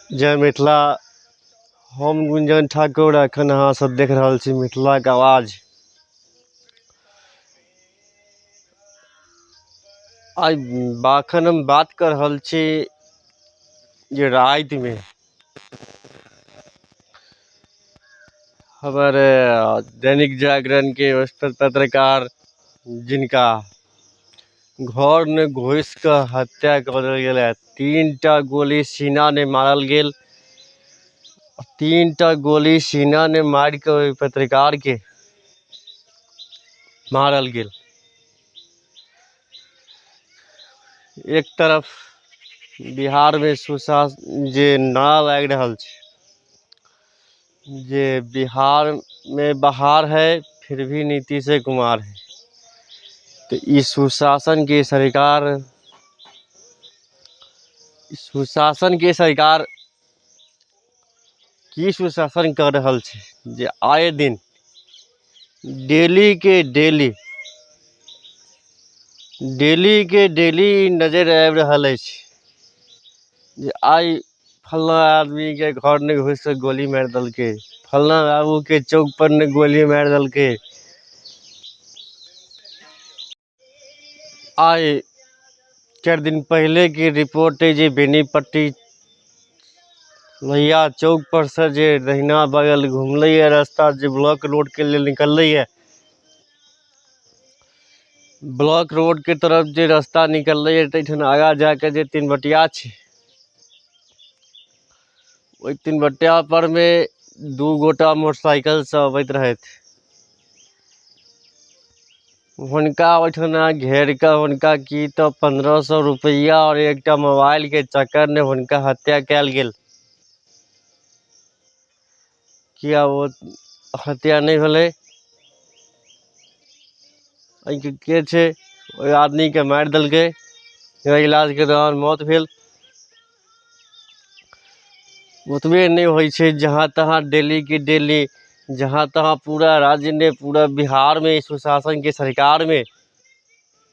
जय मिथिला हम गुंजन ठाकुर एखन अहाँ सब देख रहल छी मिथिलाके आवाज आइ एखन हम बात कर रहल छी जे रातिमे हमर दैनिक जागरणके पत्रकार जिनका घर मे घुस कऽ हत्या कऽ देल गेल है तीन टा गोली सीना ने मारल गेल तीन टा गोली सीना ने मारि कऽ ओहि पत्रकार के मारल गेल एक तरफ बिहार मे सुशासन जे नारा लागि रहल छै जे बिहारमे बहार है फिर भी नीतीशे कुमार है तऽ ई सुशासनके सरकार सुशासनके सरकार की सुशासन कऽ रहल छै जे आए दिन डेलीके डेली डेलीके डेली नजरि आबि रहल अछि जे आइ फल्लाँ आदमीके घर नहि घुसिके गोली मारि देलकै फल्लाँ बाबूके चौकपर नहि गोली मारि देलकै आइ चारि दिन पहिलेके रिपोर्ट अइ जे बेनीपट्टी लोहिया चौकपर सँ जे दहिना बगल घुमलैए रस्ता जे ब्लॉक रोडके लेल निकललैए ब्लॉक रोडके तरफ जे रस्ता निकललैए ताहिठाम आगाँ जा कऽ जे तीन बटिया छै ओहि तीन बटिया परमे दू गोटा मोटरसाइकिलसँ अबैत रहथि हुनका ओहिठाम घेर कऽ हुनका की तऽ पन्द्रह सए रुपैआ आओर एकटा मोबाइलके चक्करमे हुनका हत्या कयल गेल किया ओ हत्या नहि भेलै एहिके के छै ओहि आदमीके मारि देलकै जेना इलाजके दौरान मौत भेल ओतबे नहि होइ छै जहाँ तहाँ डेलीके डेली जहाँ तहाँ पूरा राज्यमे पूरा बिहारमे सुशासनके सरकारमे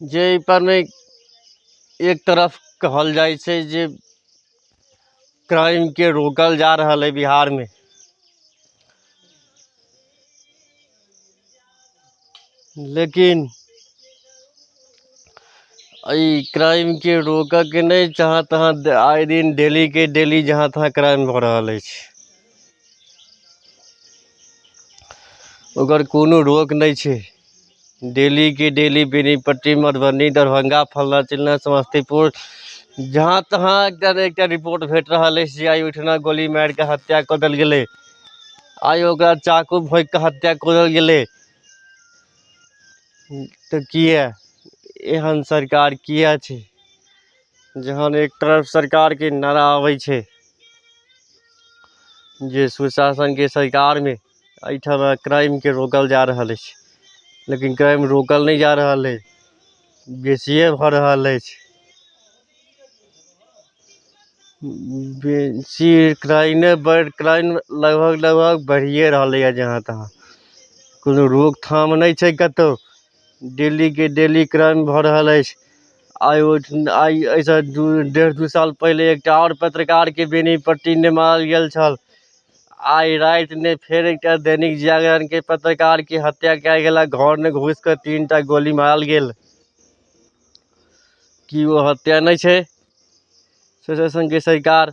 जे एहिपर मे एक तरफ कहल जाइ छै जे क्राइमके रोकल जा रहल अइ बिहारमे लेकिन एहि क्राइमके रोकयके नहि जहाँ तहाँ आए दिन डेलीके डेली जहाँ तहाँ क्राइम भऽ रहल अछि ओकर कोनो रोक नहि छै डेलीके डेली बेनीपट्टी मधुबनी दरभंगा फल्लाँ चिल्लाँ समस्तीपुर जहाँ तहाँ एकटा ने एकटा रिपोर्ट भेट रहल अछि जे आइ ओहिठिना गोली मारि कऽ हत्या कऽ देल गेलै आइ ओकरा चाकू भोंकि कऽ हत्या कऽ देल गेलै तऽ किए एहन सरकार किए छै जहन एक तरफ सरकारके नारा अबै छै जे सुशासनके सरकारमे एहिठाम क्राइमके रोकल जा रहल अछि लेकिन क्राइम रोकल नहि जा रहल अछि बेसिए भऽ रहल अछि बेसी क्राइमे बढ़ि क्राइम लगभग लगभग बढ़िए रहलैए जहाँ तहाँ कोनो रोकथाम नहि छै कतहु डेलीके डेली क्राइम भऽ रहल अछि आइ ओहिठिन आइ एहिसँ दू डेढ़ दू साल पहिले एकटा आओर पत्रकारके बेनीपट्टी नहि मारल गेल छल आइ राति नहि फेर एकटा दैनिक जागरणके पत्रकारके हत्या कयल गेल घरमे घुसि कऽ तीन टा गोली मारल गेल की ओ हत्या नहि छै सोचय सनके सरकार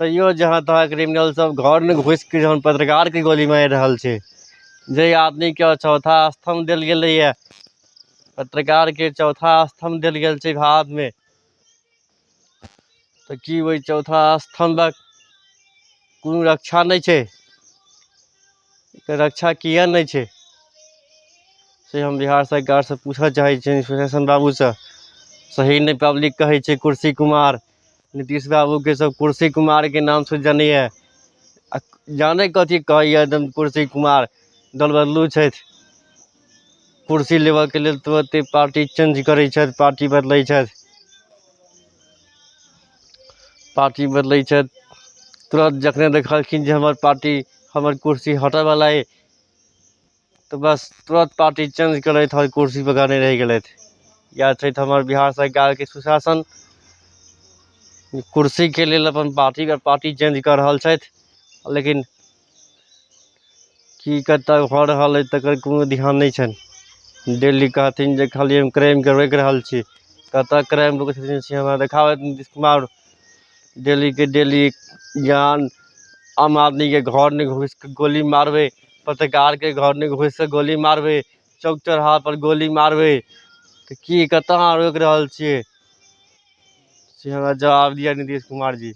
तैयो जहाँ तहाँ क्रिमिनल सब घर में घुस के जहन पत्रकार के गोली मार रहल छै जे आदमी के चौथा स्तंभ दिल गेले ये पत्रकार के चौथा स्तंभ दिल गेल छै भारत में तो की वही चौथा स्तंभ कोनो रक्षा नहीं छै रक्षा किया नहीं छै से हम बिहार सरकार से पूछऽ चाहे इंस्पिरेशन बाबू से सही नहीं पब्लिक कहे कुर्सी कुमार नीतीश बाबू के सब कुर्सी कुमार के नाम से जनै या आ जानै कथी कहै या एकदम कुर्सी कुमार दल बदलू छैथ कुर्सी लेबऽ के लेल तुरते पार्टी चेंज करै छैथ पार्टी बदलै छैथ पार्टी बदलै छैथ तुरत जखने देखलखिन जे हमर पार्टी हमर कुर्सी हटऽ बला अइ तऽ बस तुरत पार्टी चेंज करैत आओर कुर्सी पर नहि रहि गेलथि इएह छै तऽ हमर बिहार सरकारके सुशासन कुर्सीके लेल अपन पार्टी पर पार्टी चेंज कऽ रहल छथि लेकिन की कतऽ भऽ रहल अछि तकर कोनो ध्यान नहि छनि डेली कहथिन जे खाली हम क्राइमके रोकि रहल छी कतऽ क्राइम रोकै छथिन से हमरा देखाउ नीतीश कुमार डेलीके डेली ज्ञान आम आदमीके घरमे घुसि कऽ गोली मारबै पत्रकारके घरमे घुसि कऽ गोली मारबै चौक चौराहापर गोली मारबै तऽ की कतय अहाँ रोकि रहल छियै से हमरा जवाब दिअ नीतीश कुमारजी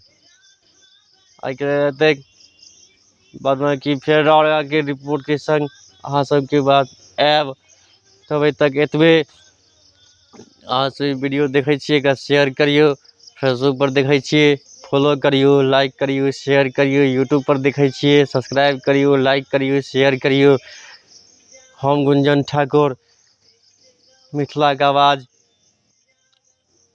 एहिके एतेक बादमे कि फेर राउरके रिपोर्टके सङ्ग अहाँ सभके बात आयब तब तक एतबे अहाँ सब ई वीडियो देखै छियै एकरा शेयर करियौ फेसबुक पर देखै छियै फॉलो करियौ लाइक करियौ शेयर करियौ यूट्यूब पर देखै छियै सब्सक्राइब करियौ लाइक करियौ शेयर करियौ हम गुंजन ठाकुर मिथिलाके आवाज